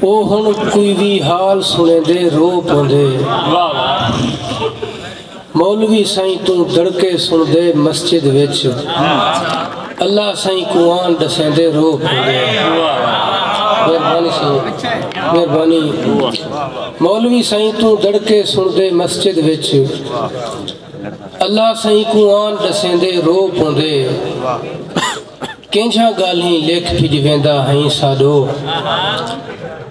او ہن کوئی وی حال سنڑیندے رو پوندے مولوی سائیں توں دڑکے سنڑدے مسجد وچ اللہ سائیں قرآن ڈسیندے رو پوندے مہربانی سائیں مہربانی مولوی سائیں توں دڑکے سنڑدے مسجد وچ اللہ سائیں قرآن ڈسیندے رو پوندے کینجھاں گالھیں لیکھ پھج ویندا ہئیں ساڈو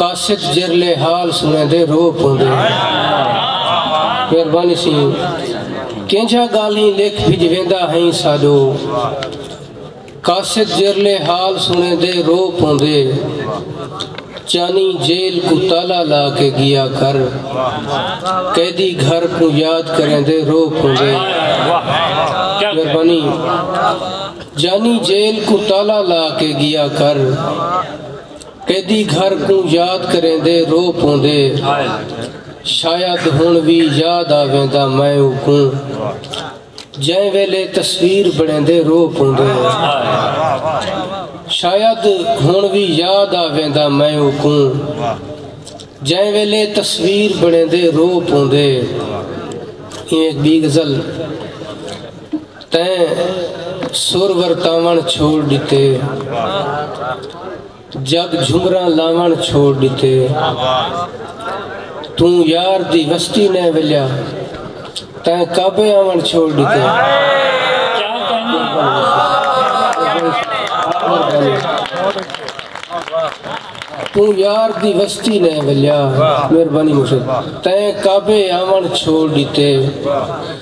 قاصد جرلے حال سنیندے رو پوندے مہربانی سی کینجھاں گالھیں لیکھ پھج ویندا ہئیں ساڈو قاصد جرلے حال سنیندے رو پوندے چانی جیل کو تالا لا کے گیا کر قیدی گھر کو یاد کریں دے رو پھوندے مہربانی جانی جیل کوں تالا لا کے گیا کر قیدی گھر کوں یاد کریں دے رو پوندے شاید ہن وی یاد آویندا میں او کوں جیں ویلے تصویر بنیندے رو پوندے شاید ہن وی یاد آویندا میں او کوں جیں ویلے تصویر بنیندے رو پوندے ایک بی غزل تیں سر ورتاون چھوڑ ڈتے جگ جھمراں لاون چھوڑ ڈتے توں یار دی وستی نہ ولیا تیں کعبے آون چھوڑ ڈتے تو یار دی وستی نے ولیا مہربانی مشد تین کعبے آون چھوڑ دیتے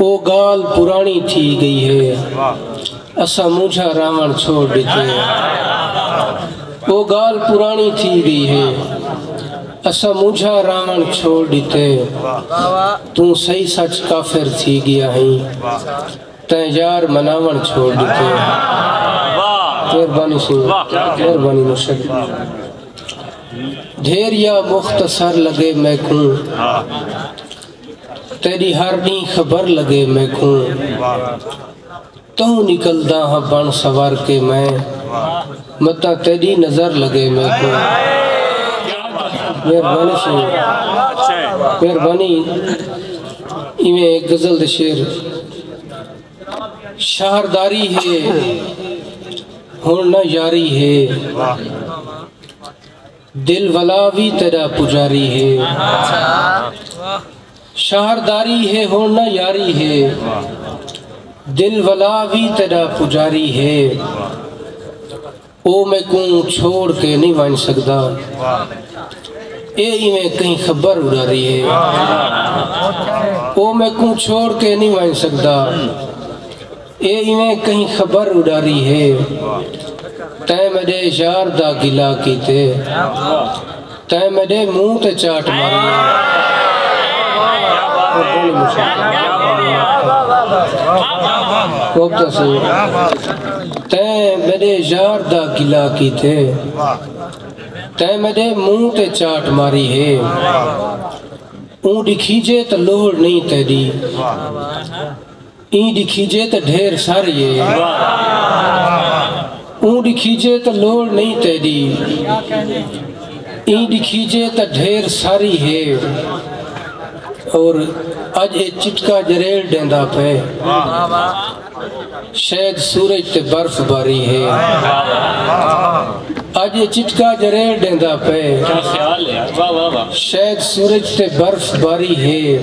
او گالھ پراݨی تھی ڳئی ہے اساں مونجھاں راہوݨ چھوڑ ݙتے او گالھ پراݨی تھی ڳئی ہے اساں مونجھاں راہوݨ چھوڑ ݙتے توں صحیح سچ کافر تھی ڳیا ہیں تیں یار مناوݨ چھوڑ ݙتے مہربانی سی مہربانی مرشد دھیر یا مختصر لگے میکوں تیڈی ہر ڈینہہ خبر لگے میکوں توں نکلدا ہاں بن سنور کے میں متاں تیڈی نظر لگے میکوں مہربانی سی مہربانی ایویں غزل دے شعر شہرداری ہے ہن نہ یاری ہے دل ولا وی تیڈا پجاری ہے شہر داری ہے ہن نہ یاری ہے دل ولا وی تیڈا پجاری ہے او میکوں چھوڑ کے نہیں ونج سکدا اے ایویں کہیں خبر اڈاری ہے او میکوں چھوڑ کے نہیں ونج سکدا اے ایویں کہیں خبر اڈاری ہے تیں میڈے یار دا گلہ کیتے تیں میڈے منہ تے چاٹ ماری تیں میڈے یار دا گلہ کیتے تیں میڈے منہ تے چاٹ ماری ہے اون ڈکھیجے تو لوڑ نہیں تیڈی ایں ڈکھیجے تے ڈھیر سر یے۔ اوں ڈکھیجے تے لوڑ نئیں تیڈی۔ ایں ڈکھیجے تے ڈھیر ساری ہے۔ اور اج اے چٹکا جریل ڈیندا پئے۔ شاید سورج تے برف باری ہے۔ اج اے چٹکا جریل ڈیندا پئے۔ شاید سورج تے برف باری ہے۔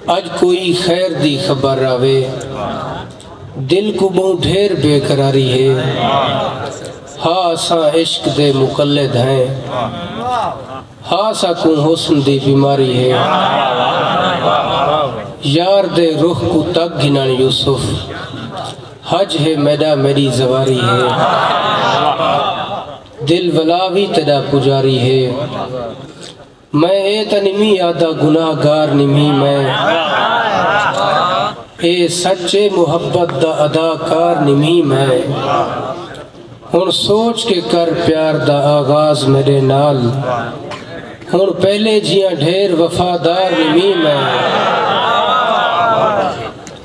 اج کوئی خیر دی خبر آوے دل کوں بہوں ڈھیر بے قراری ہے ہا اساں عشق دے مقلد ہیں ہا ساکوں حسن دی بیماری ہے یار دے رخ کوں تک گھنن یوسف حج ہے میڈا میڈی زواری ہے دل ولا وی تیڈا پجاری ہے میں اے تاں نمی آدھا گناہ گار نمی میں اے سچ اے محبت دا ادا کار نمی میں ہن سوچ کے کر پیار دا آغاز میرے نال ہن پہلے جیاں ڈھیر وفادار نمی میں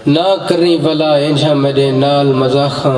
نہ کریں ولا انجھا میرے نال مزاخاں